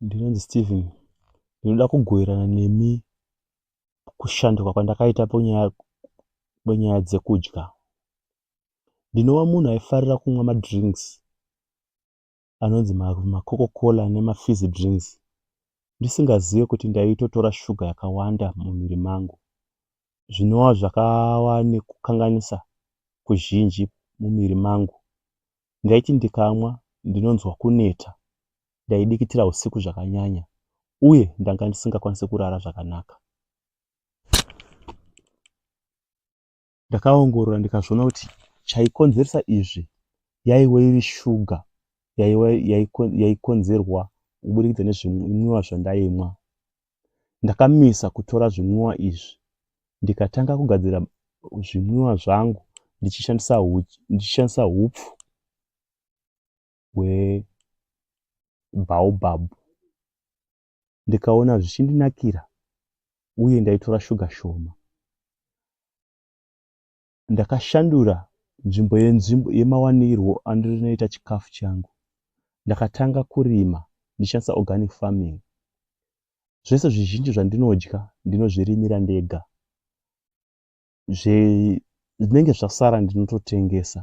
Ndinonzi Steven ndinoda kugoverana nemi kushanduka kwandakaita ponyaya ponyaya dzekudya. Ndinova munhu aifarira kumwa madrinks anonzi macoca cola nemafizzy drinks ndisingazive kuti ndaitotora shuga yakawanda mumwiri mangu zvinova zvakava nekukanganisa kuzhinji mumwiri mangu Ndaiti ndikamwa ndinonzwa kuneta, ndaidikitira usiku zvakanyanya uye ndanga ndisingakwanise kurara zvakanaka. Ndakaongorora ndikazviona kuti chaikonzeresa izvi yaiwe iri shuga yaikonzerwa kuburikidza nezvimwiwa zvandaimwa. Ndakamisa kutora zvimwiwa izvi ndikatanga kugadzira zvimwiwa zvangu ndichishandisa huchi ndichishandisa hupfu hwebaobab ndikaona zvichindinakira uye ndaitora shuga shoma Ndakashandura nzvimbo yenzvimbo yemawanirwo andinoita chikafu changu. Ndakatanga kurima ndichishandisa organic farming. Zvese zvizhinji zvandinodya ndinozvirimira ndega. Zvinenge zvasara ndinototengesa.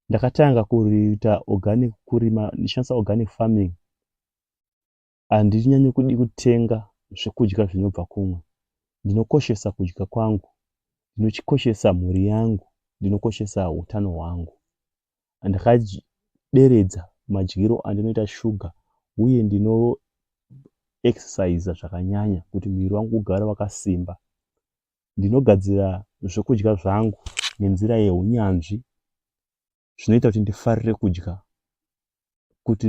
Ndakatanga kuita organic kurima ndichishandisa organic farming Handinyanyo kudi kutenga zvekudya zvinobva kumwe. Ndinokoshesa kudya kwangu. Ndinokoshesa mhuri yangu. Ndinokoshesa hutano hwangu. Ndakaderedza madyiro andinoita shuga uye ndino exerciser zvakanyanya kuti muviri wangu ugare wakasimba. Ndinogadzira zvekudya zvangu nenzira yehunyanzvi zvinoita kuti ndifarire kudya kuti